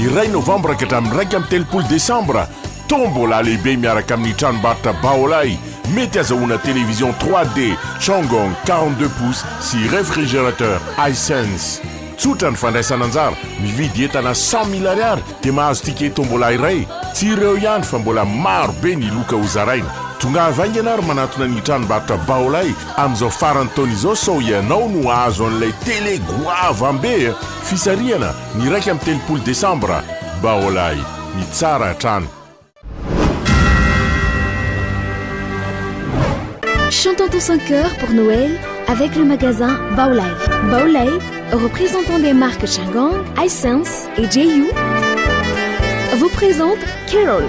Ny iray novambra ka hatramin'ny iraika amby telopolo desambra, tombola lehibe miaraka amin'ny tranombarotra Baolai, mety azahoana télévision 3D Changong 42 pouces sy réfrigérateur Hisense. Tsotra ny fandraisana anjara, mividy entana cent mille ariary dia mahazo ticket tombola iray. Tsy ireo ihany fa mbola maro be ny loka hozaraina. Tongava haingana ary manatona ny tranombarotra Baolai. Amin'izao faran'ny taona izao sao ianao no hahazo an'ilay tele goavam be a! Fisarihana ny iraika amby telopolo desambra Baolai! Ny tsara hatrany. Chantons tous en chœur pour Noël avec le magasin Baolai. Baolai, représentant des marques Changang, Hisense et JU, vous présente Carols.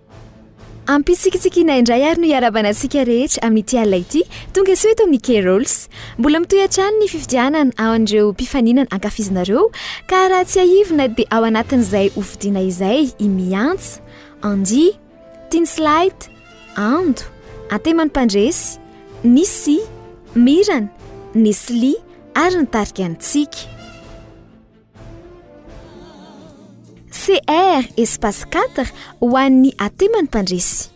Ampitsikitsikiana indray ary no iarabana antsika rehetra amin'ity alina ity, tonga soa eto amin'ny K-Rolls. Mbola mitohy hatrany ny fifidianana ao an'ireo mpifaninana ankafizinareo ka raha tsiahivina dia ao anatin'izay ho fidiana izay i Miantsa, Andy, Tins Light, Ando, Antemany Mpandresy, Nissi, Mirana, Nesly ary ny tarika antsika. CR espace 4 ho an'ny ateman'ny mpandresy.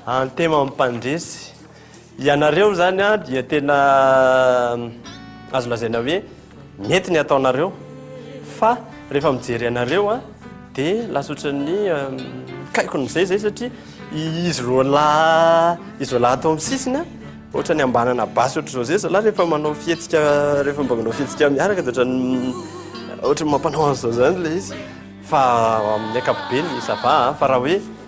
Antema mpandresy. Ianareo izany dia tena azo lazaina hoe Mety ny ataonareo fa rehefa mijery anareo a de lasa ohatran'ny mikaikona izay izay satria izy roa lahy izy roa lahy ato amin'ny sisiny a ohatran'ny ambanana basy ohatr'izao izay zalahy rehefa manao fihetsika rehefa mba manao fihetsika miaraka de ohatran'ny ohatran'ny mampanao an'izao izany ilay izy fa amin'ny ankapobeny ça va a fa raha hoe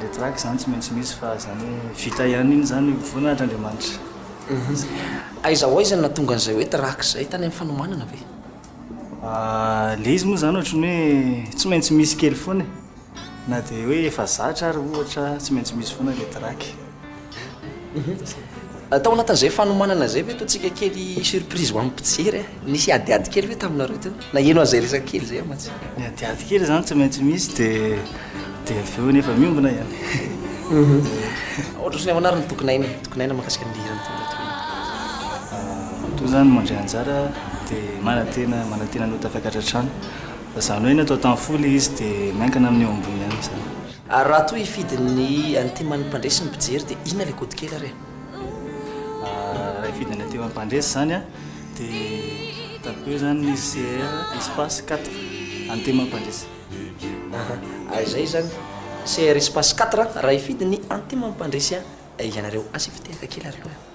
le track zany tsy maintsy misy fa zany hoe vita ihany iny zany voninahitr' Andriamanitra. Aiza ho aiza no nahatonga an'izay hoe track izay, tany amin'ny fanomanana ve? Le izy moa zany ohatry ny hoe tsy maintsy misy kely foana e, na dia hoe efa zatra ary ohatra tsy maintsy misy foana le track. Tao anatin'izay fanomanana izay ve ataontsika kely surprise ho an'ny mpijery e? Nisy adiady kely ve taminareo teo? Naheno an'izay resaka kely izay aho mantsy. Ny adiady kely izany tsy maintsy misy dia dia avy eo nefa miombona ihany. Ohatr'izao ny ahoana ary ny tokony hainy e? Tokony haina mahakasika an'ilay hira nitondra teo iny. Toa izany no mandray anjara dia manantena manantena ny ho tafakatra hatrany. Fa izany hoe ny atao tamin'ny fo ilay izy dia miankina amin'ny eo ambony ihany izany. Ary raha toa hifidy ny an'i Timan'ny mpandresy ny mpijery dia inona ilay kody kely ary e? Raha hifidy an'i Timan'ny mpandresy izany an, dia ataoko hoe izany ny CR espace quatre an'i Timan'ny mpandresy. Aha, ary izay izany, CR espace quatre raha hifidy ny an'i Timan'ny mpandresy ianareo. Asa ifitehaka kely ary aloha e.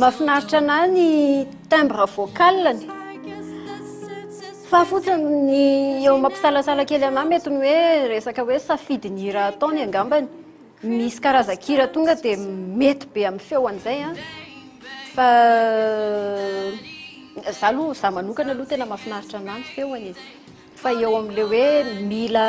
Mahafinaritra anah ny timbre vocal-ny fa fotsiny ny eo mampisalasala kely anah mety ny hoe resaka hoe safidin'ny hira ataony angambany. Misy karazan-kira tonga dia mety be amin'ny feo an'izay an, fa izaho aloha, izaho manokana aloha tena mahafinaritra anah ny feony e. Fa eo amin'ilay hoe mila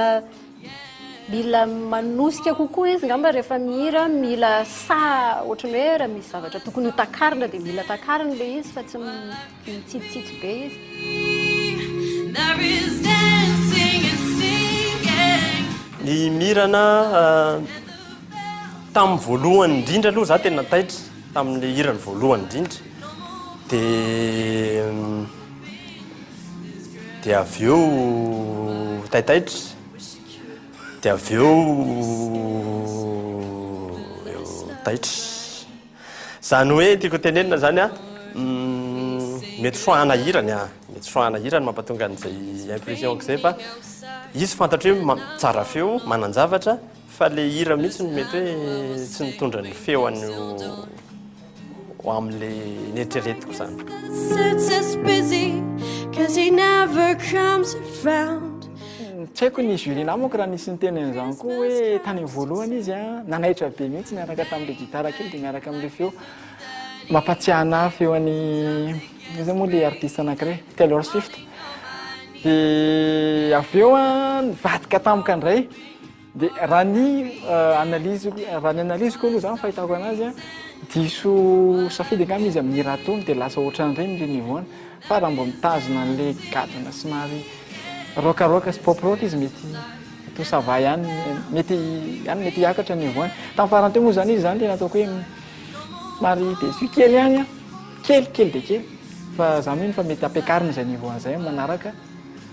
mila manosika kokoa izy angamba rehefa mihira, mila saha ohatran'ny hoe raha misy zavatra tokony ho takarina dia mila takarina ilay izy fa tsy mitsitsitsitsy be izy. Ny mirana tamin'ny voalohany indrindra aloha za tena taitra tamin'ilay hirany voalohany indrindra dia dia avy eo taitaitra, dia avy eo taitra. Izany hoe tiako tenenina izany an, mety soa hanahirany an, mety soa hanahirany mampatonga an'izay impression-ko izay fa izy fantatro hoe tsara feo, manan-javatra, Fa le hira mihitsy no mety hoe tsy nitondra ny feo any ho amle neritreretiko zany. Tsy haiko ny jury namako raha nisy niteny an'izany koa hoe tany amin'ny voalohany izy a, nanaitra be mihitsy niaraka tamin'ilay gitara kely dia miaraka amin'ilay feo. Mampahatsiahy anà feo an'i, inona izany moa ilay artista anankiray? Taylor Swift. Dia avy eo a, nivadika tampoka indray. Dia raha ny analyse, raha ny analyse ko aloha zany fahitako anazy an, diso safidy angamba izy amin'ny hira tony dia lasa ohatran'ireny le niveau-ny, fa raha mba mitazona an'le gadona somary rock rock sy pop rock izy mety tout ça va ihany, mety any mety hiakatra ny niveau-ny. Tamin'ny farany teo moa zany izy zany tena ataoko hoe somary déçu kely ihany an, kely kely dia kely, fa za mino fa mety ampiakarina izay niveau-ny izay amin'ny manaraka.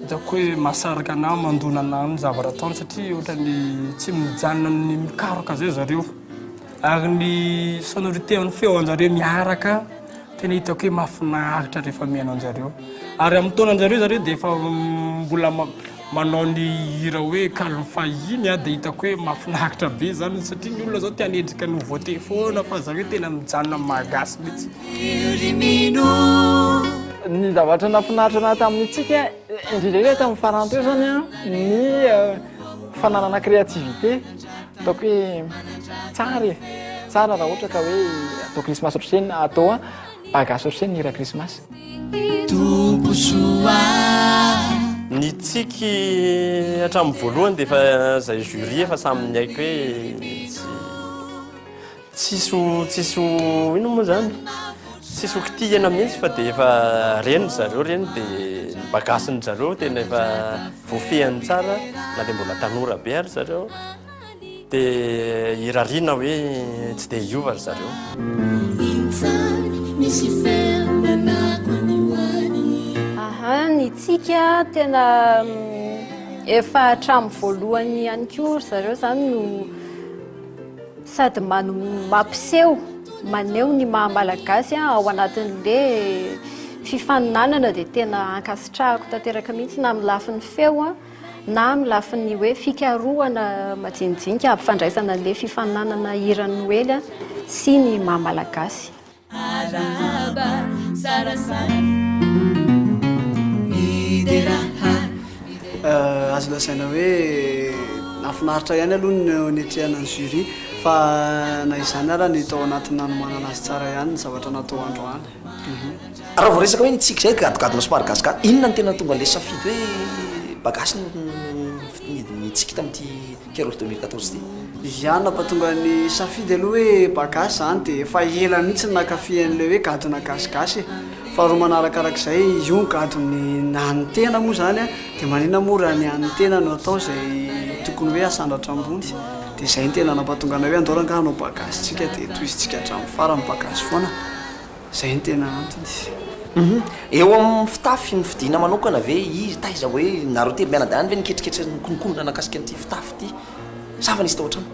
Hitako hoe mahasaraka anah mandona anah amin'ny zavatra ataony satria ohatran'ny tsy mijanona amin'ny mikaroka zay zareo ary ny sonorité an'ny feo anjareo miaraka tena hitako hoe mahafinaritra rehefa mihaino anjareo ary amin'ny taona anjareo zareo dia efa mbola manao ny hira hoe kalon'ny fahiny ah dia hitako hoe mahafinaritra be zany satria ny olona zao te hanendrika nouveauté foana fa zareo tena mijanona amin'ny mahagasy mihitsy. Ny zavatra nahafinaritra naha tamin'ny antsika indrindra indrindra tamin'ny farany teo zany an, ny fananana créativité ataoko hoe tsara e, tsara raha ohatra ka hoe atao krismasy ohatr'izay na atao ba gasy ohatr'izay ny hira krismasy. Ny tsiky hatramin'ny voalohany dia efa izay jury efa samy niaiky hoe tsy. Tsisy ho tsisy ho inona moa izany? Tsisy ho kitihina mihitsy fa dia efa reny ry zareo ireny dia ny bagasin'ny zareo tena efa voafehiny tsara na dia mbola tanora be ary ry zareo dia irariana hoe tsy dia hiova ry zareo. Aha, ny tsika tena efa hatramin'ny voalohany ihany koa ry zareo izany no. Sady mampiseho, maneho ny maha malagasy aho ao anatin'le fifaninanana dia tena ankasitrahako tanteraka mihitsy na amin'ny lafiny feo na amin'ny lafiny hoe fikarohana majinijinika hampifandraisana an'le fifaninanana hira noely sy ny maha malagasy. Arahaba tsara saina. Midera ha midera ha. Azo lazaina hoe nahafinaritra ihany aloha ny niatrehana ny jury fa na izany ara ny tao anatin'ny nanomanana azy tsara ihany ny zavatra natao androany. Raha vao resaka hoe ny tsiky izay gadogadona somary gasga, inona no tena tonga ilay safidy hoe bagasy no nitsiky tamin'ity Kera off deux mille quatorze ty. Viviane mba tonga ny safidy aloha hoe ba gasy zany de efa ela mihitsy nakafy an'ilay hoe gadona gasigasy e! faharoa manarakarak'izay io gadon'ny an'ny tena moa zany a de maninona moa raha ny an'ny tena no atao zay tokony hoe asandratra ambony de zay no tena nampatonga anay hoe andao rangahy hanao ba gasy tsika de tohizintsika hatramin'ny farany ba gasy foana. Izay no tena antony. Eo amin'ny fitafy no fidiana manokana ve izy? Taiza hoe nareo telo mianadahy any ve niketriketra nikonokonona nahakasika an'ity fitafy ity sa efa nisy tao an-trano?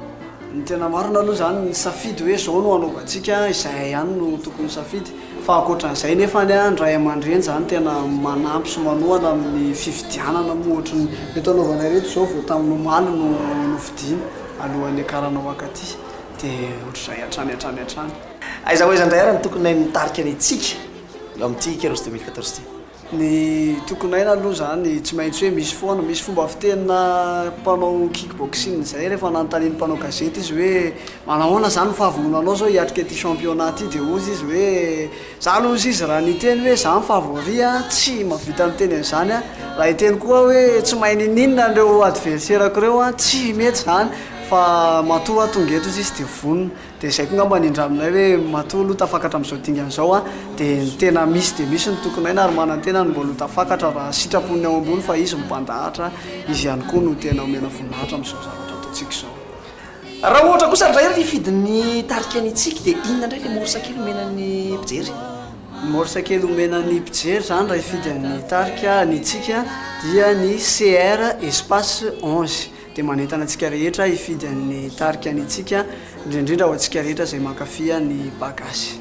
Ny tena marina aloha izany ny safidy hoe izao no hanaovantsika izay ihany no tokony safidy fa ankoatran'izay nefa ny ny ray aman-dreny izany tena manampy sy manohana amin'ny fifidianana moa ohatry ny eto anaovana ireto izao vao tamin'ny omaly no nofidiana alohan'ny hiakarana ho ankaty dia ohatr'izay hatrany hatrany hatrany. Aiza ho aiza indray ary ny tokony hain'ny tarika ny Tsika eo amin'ity Heroes 2014 ity? Ny tokony haina aloha izany tsy maintsy hoe misy foana, misy fomba fitenina mpanao kick boxing izay rehefa nanontanian'ny mpanao gazety izy hoe manao ahoana izany ny fahavononanao izao hiatrika ity championnat ity dia hozy izy hoe za aloha hozy izy raha niteny hoe za ny favori an, tsy mahavita miteny an'izany aho, raha hiteny koa hoe tsy mahay niniana ireo adverserako ireo an, tsy mety izany fa matoa aho tonga eto hozy izy dia vonona. Dia zay koa ngamba ny indraminay hoe matoa aloha tafakatra amin'izao dingana izao an, dia ny tena misy dia misy ny tokin'aina ary manantena ny mbola ho tafakatra raha sitrapon'ny ao ambony fa izy mipandahatra, izy ihany koa no tena omena voninahitra amin'izao zavatra ataontsika izao. Raha ohatra kosa indray ary hifidy ny tarika ny tsiky dia inona indray ilay morsa kely omena ny mpijery? Ny morsa kely omena ny mpijery izany raha hifidy an'ny tarika ny tsiky dia ny CR espace onze. dia manentana antsika rehetra hifidy an'ny tarika ny antsika, indrindra indrindra ho antsika rehetra izay mankafy ny Bagasy.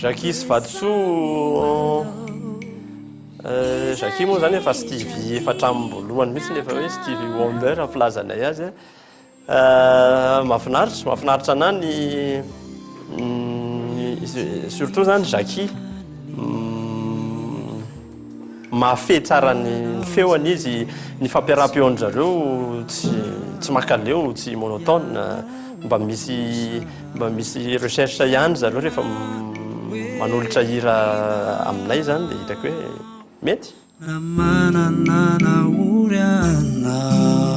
Jackie sy Vatosoa eh, Jackie moa zany efa Stevie efa hatramin'ny voalohany mihitsy efa hoe Stevie Wonder filazanay azy eh. eh, mahafinaritra mahafinaritra anah ny mm, surtout zany Jackie mm, Mahafehy tsara ny feony izy, ny fampiaraha-peon-dry zareo tsy tsy mankaleo, tsy monotone, mba misy mba misy recherche ihany ry zareo rehefa manolotra hira aminay zany dia hitako hoe mety. Raha manana nahory anao.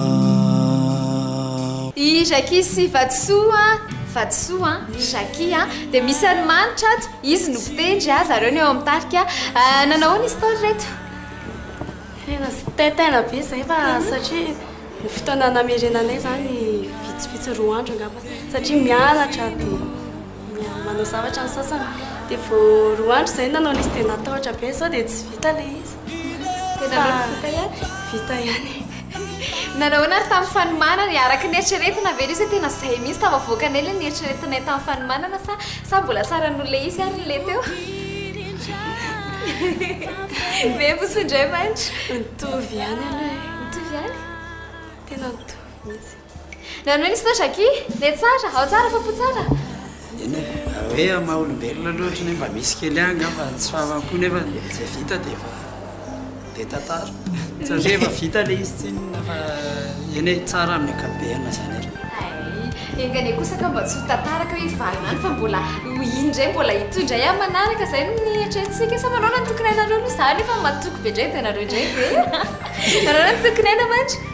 I Jacky sy Vatosoa, Vatosoa an, Jacky an, dia misy ranomanitra ato. Izy no mpitendry a, zareo no eo amin'ny tarika. Nanao ahoana izy tao ry reto? Tena zitaitaina be izay fa satria ny fotoana namerenanay izany vitsivitsy roa andro angamba satria mianatra dia manao zavatra ny sasany dia vao roa andro izay nanao ilay izy dia natahotra be sao dia tsy vita ilay izy. Tena mety vita ihany? Vita ihany e! Nanao ahoana ary tamin'ny fanomanana e? Araka ny eritreretina ve ilay izy hoe tena izay mihitsy tafavoakanay ilay nieritreretinay tamin'ny fanomanana sa sa mbola tsara noho ilay izy ary ilay teo? Miha-mifoso indray mantsy! Mitovy ihany aloha e! Mitovy ihany? Tena mitovy mihitsy! Nanohy ny sinoa Jacky, le tsara, ao tsara fapo tsara. Eny e, raha hoe amin'ny maha olombelona aloha ohatry ny hoe mba misy kely ihany angamba ny tsy fahamam-po nefa izay vita dia efa be tantara satria efa vita le izy tsinona fa eny e, tsara amin'ny ankapobeny izany ary. Hay, enga anie kosa ka mba tsy ho tantaraka hoe hivarina any fa mbola ho iny indray, mbola hitohy indray amin'ny manaraka, izay no nieritreretintsika, sa manao na ny tokony hainareo aloha, izaho anefa matoky be indray dia ianareo indray ve e? Manao na ny tokony haina mantsy.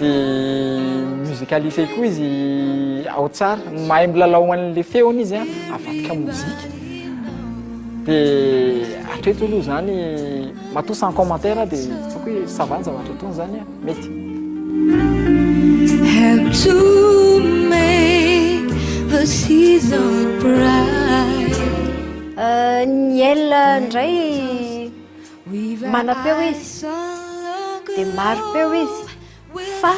Dia musicalise koa izy ao tsara. Mahay milalao an'ilay feony izy an, avadika mozika. Dia hatreto aloha izany, matoa sans commentaire aho dia hitako hoe ça va ny zavatra ataony izany an, mety. Help to make the season bright. Ny L indray. Manam-peo izy, dia mari-peo izy, fa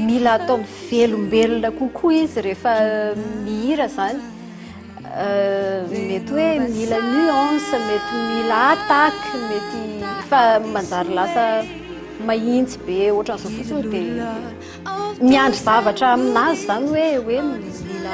mila atao mivelombelona kokoa izy rehefa mihira izany. Mety hoe mila nuance, mety mila attaque, mety fa manjary lasa mahitsy be ohatran'izao fotsiny dia miandry zavatra aminazy izany hoe hoe mila mila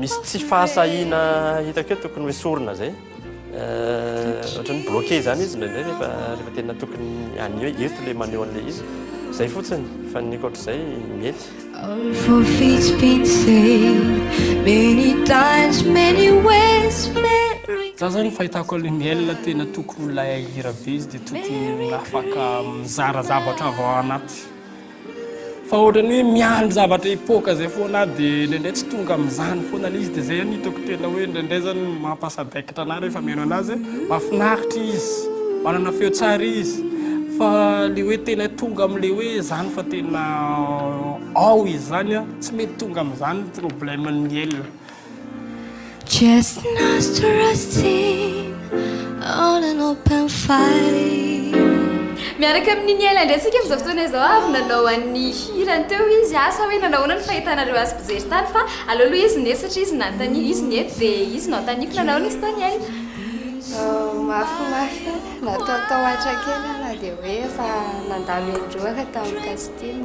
Misy tsy fahasahiana hitako eo tokony hoesorina izay ohatran'ny bloqué izany izy indraindray rehefa rehefa tena tokony anio hoe eto ilay maneho an'ilay izy izay fotsiny fa ny ankoatr'izay mety All for feet been said many times many ways Mary Za zany fahitako an'ilay Miel tena tokony ho lahira be izy dia tokony afaka mizara zavatra avy ao anaty Fa ohatrany hoe miandry zavatra hipoaka izay foana aho dia indraindray tsy tonga amin'izany foana ilay izy dia izay no hitako tena hoe indraindray izany mampasadaikitra anah rehefa mihaino anazy hoe mahafinaritra izy, manana feo tsara izy fa ilay hoe tena tonga amin'ilay hoe izany fa tena ao izy izany an, tsy mety tonga amin'izany ny problème ny miel. Miaraka amin'i Niaila indray isika amin'izao fotoana izao ary nanao an'ny hirany teo izy a, sa hoe nanao ahoana ny fahitanareo azy mpijery tany fa aleo aloha izy no eto satria izy no nanontaniana, izy no eto dia izy no hanontaniako, nanao ahoana izy tao Niaila? Mafimafy e, natahotahotra kely aho na dia hoe efa nandalo indroa aho tamin'ny casting.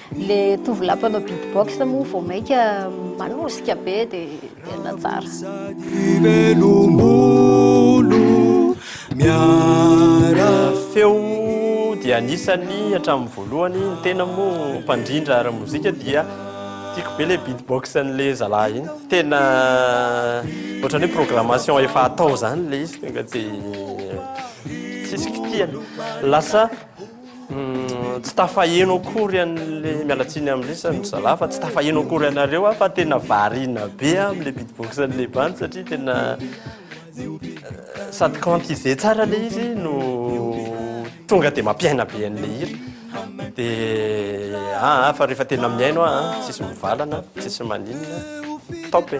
Le tovolahy mpanao beatbox moa vao maika manosika be de tena tsara. Feo dia anisany hatramin'ny voalohany, ny tena moa mpandrindra ara mozika dia tiako be le beatbox an'le zalahy iny, tena ohatran'ny hoe programmation efa atao zany le izy tonga de tsisy kitihana, lasa. Tsy tafaheno akory an'le miala tsiny amin'ny resany ry zalahy fa tsy tafaheno akory anareo aho fa tena variana be aho amin'le beatbox an'le bandy satria tena sady quantiser tsara le izy no tonga de mampiaina be an'le hira de aa fa rehefa tena mihaino aho an tsisy mivalana tsisy maninona top e.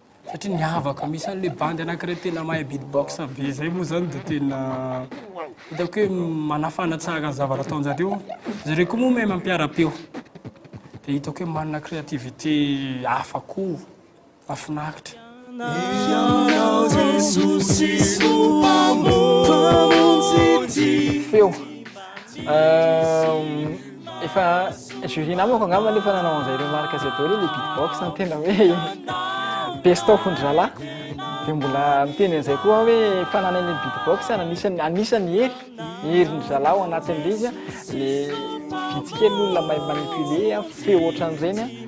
Satria miavaka misy an'le bandy anakiray tena mahay beatbox be zay moa zany de tena hitako hoe manafana tsara ny zavatra ataonjareo. Zareo koa moa mahay mampiara-peo. De hitako hoe manana créativité hafa koa. Mahafinaritra. Ianao Jesosy Mpamonjy ty. Feo. Efa jury-na manko angamba nefa nanao an'izay remarque zay daholo le beatbox ny tena hoe best of ndry zalahy de mbola miteny an'izay koa aho hoe fananany ny beatbox ary anisany anisany hery herin-dry zalahy ao anatin'ilay izy a le vitsy kely ny olona mahay manipuler feo ohatran'ireny a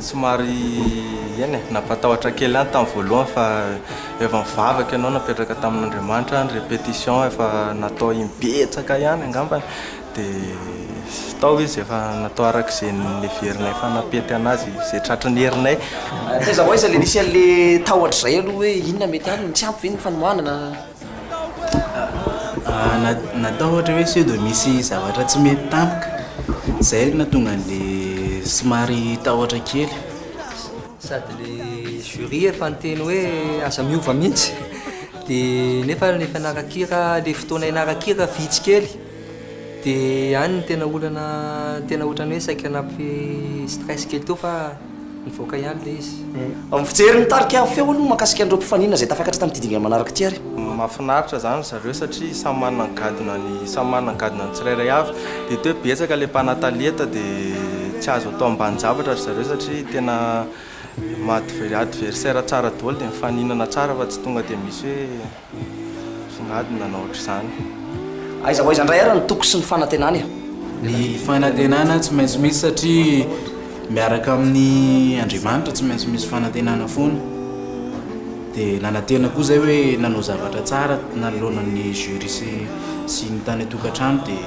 Somary eny e, nampatahotra kely ahy tamin'ny voalohany fa efa nivavaka ianao napetraka tamin'Andriamanitra ny répétition efa natao im-betsaka ihany angambany dia tao izy efa natao araka izay niheverinay fa hanam-pety an'azy izay tratry ny herinay. Taiza ho aiza ilay nisy an'ilay tahotra izay aloha hoe inona mety any, tsy ampy ve ny fanohanana? Natao ohatra hoe sao dia misy zavatra tsy mety tampoka, izay no nahatonga an'ilay somary tahotra kely. Sady ilay jury efa niteny hoe aza miova mihitsy dia nefa ilay mpianaran-kira ilay fotoana hianaran-kira vitsy kely. Dia any ny tena olana tena ohatran'ny hoe saika nampy stress kely teo fa nivoaka ihany ilay izy. Mijery ny tarika feo aloha mahakasika an'ireo mpifaninana izay tafakatra tamin'ity dingana manaraka ity ary. Mahafinaritra izany ry zareo satria samy manana ny gadonany samy manana ny gadonany tsirairay avy. Dia hita hoe betsaka ilay mpanatalenta dia tsy azo atao ambanin-javatra ry zareo satria tena maha adversaire tsara daholo dia mifaninana tsara fa tsy tonga dia misy hoe. Songadiny nanao ohatr'izany. Aiza ho aiza indray ary ny toko sy ny fanantenana e? Ny fanantenana tsy maintsy misy satria miaraka amin'ny Andriamanitra tsy maintsy misy fanantenana foana. Dia nanantena koa izay hoe nanao zavatra tsara nanoloana ny jurys sy ny tany an-tokantrano dia.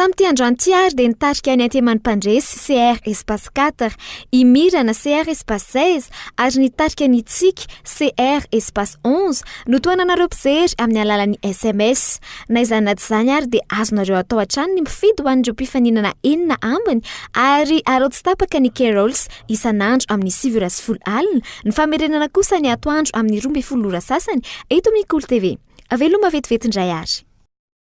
Tamin'ity androany ity ary dia nitarika ny anteman'ny mpandresy CR Espace 4 i Mirana CR Espace 16 ary nitarika ny Tsiky CR Espace 11 no tohananareo mpijery amin'ny alalan'ny sms. Na izany na tsy izany ary dia azonareo atao hatrany ny mifidy ho an'ireo mpifaninana enina ambiny ary arao tsy tapaka ny Carols isan'andro amin'ny sivy ora sy folo alina, ny famerenana kosa ny atoandro amin'ny roa ambin'ny folo ora sasany eto amin'ny Kolo TV. Veloma vetivety indray ary.